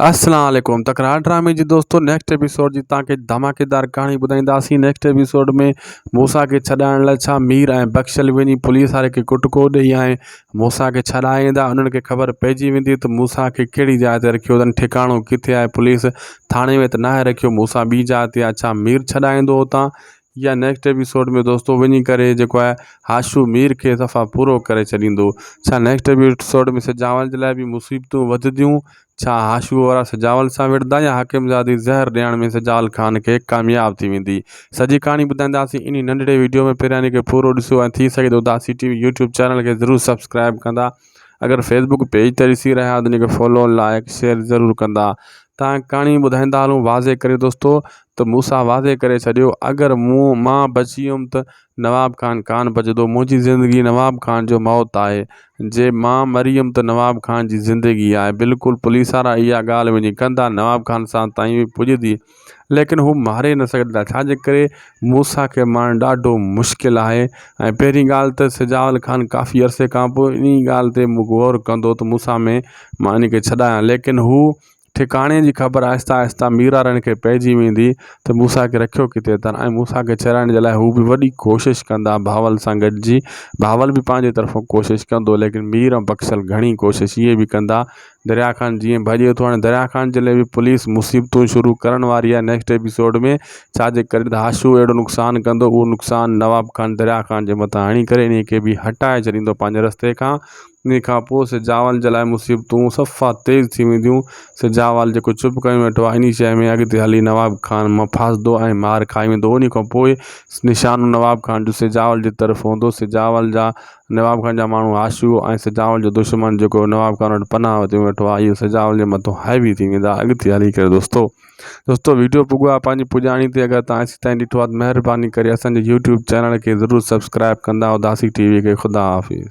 السلام عليڪم تڪرار ڊرامي جي دوستو نيڪسٽ ايپيسوڊ جي تان کي ڌماڪيدار ڪهاڻي ٻڌائينداسين نيڪسٽ ايپيسوڊ ۾ موسا کي ڇڏائڻ لاء ڇا مير ۽ بخشل وڃي پوليس واري کي ڪٽڪو ڏيئي ۽ موسا کي ڇڏائي ايندا انهن کي خبر پئجي ويندي ته موسا کي ڪهڙي جاء تي رکيو اٿن ٺڪاڻو ڪٿي آهي پوليس ٿاڻي ۾ ته ناهي رکيو موسا ٻي جاء تي آهي ڇا مير ڇڏائيندو اتان يا نيڪسٽ ايپيسوڊ ۾ دوستو وڃي ڪري جيڪو آهي هاشو مير کي صفا پورو ڪري ڇڏيندو ڇا نيڪسٽ ايپيسوڊ ۾ سجاول جي لاء به مصيبتون وڌنديون ڇا هاشو وارا سجاول سان وڙهندا يا حاڪم زادي زهر ڏيڻ ۾ سجاول خان کي ڪامياب ٿي ويندي سڄي ڪهاڻي ٻڌائينداسين انهي ننڍڙي ويڊيو ۾ پهريان ان کي پورو ڏسو ۽ ٿي سگهي ته داسي ٽي وي يوٽيوب چينل کي ضرور سبسڪرائيب ڪندا اگر فيسبوڪ پيج تي ڏسي رهيا آهيو ته فالو لائڪ شيئر ضرور ڪندا تان ڪھاڻي ٻڌائيندا هلون واضح ڪري دوستو ته مون سان واضح ڪري ڇڏيو اگر مون مان بچي ويم ته نواب خان ڪانه بچندو منهنجي زندگي نواب خان جو موت آهي جي مان مري ويم ته نواب خان جي زندگي آهي بلڪل پوليس وارا اها ڳالهه وڃي ڪندا نواب خان سان تائين پڄندي ليڪن هو ماري نه سگهن ٿا ڇا جي ڪري موسيٰ کي مارڻ ڏاڍو مشڪل آهي ۽ پهرين ڳالهه ته سجاول خان ڪافي عرصي کان پوء انهي ڳالهه تي غور ڪندو ته موسيٰ ۾ مان ان کي ڇڏايان ليڪن هو ٺڪاڻي جي خبر آهستي آهستي ميرارڻ کي پئجي ويندي ته موسيٰ کي رکيو ڪٿي اٿن ۽ موسيٰ کي ڇڏائڻ جي لاء هو به وڏي ڪوشش ڪندا بهاول سان گڏجي بهاول به پنهنجي طرفون ڪوشش ڪندو ليڪن مير ۽ بخشل گهڻي ڪوشش اهي به ڪندا دريا خان جيئن ڀڄي ٿو هاڻي دريا خان جي لاء پوليس مصيبتون شروع ڪرڻ واري آهي نيڪسٽ ايپيسوڊ ۾ ڇاجي ڪري ته هاشو اهڙو نقصان ڪندو اهو نقصان نواب خان دريا خان جي مٿان هڻي ڪري انهي کي به هٽائي ڇڏيندو پنهنجي رستي کان انهي کان پوء سجاول جي لاء مصيبتون صفا تيز ٿي وينديون سجاول جيڪو چپ ڪري ويٺو آهي انهي شيء ۾ اڳتي هلي نواب خان مان ڦاسدو ۽ مار کائي ويندو انهي کان پوء نشانو نواب خان جو سجاول جي طرف هوندو سجاول جا نواب خان جا ماڻهو آشوب ۽ سجاول جو دشمن جيڪو نواب خان وٽ پناهه وٺي ويٺو آهي اهو سجاول جي مٿو حاوي ٿي ويندا اڳتي هلي ڪري دوستو دوستو ويڊيو پڳو آهي پنهنجي پڄاڻي تي اگر تان اسين تائين ڏٺو آهي ته مهرباني ڪري اسان جي يوٽيوب چينل کي ضرور سبسڪرائب ڪندا اداسي ٽي وي کي خدا حافظ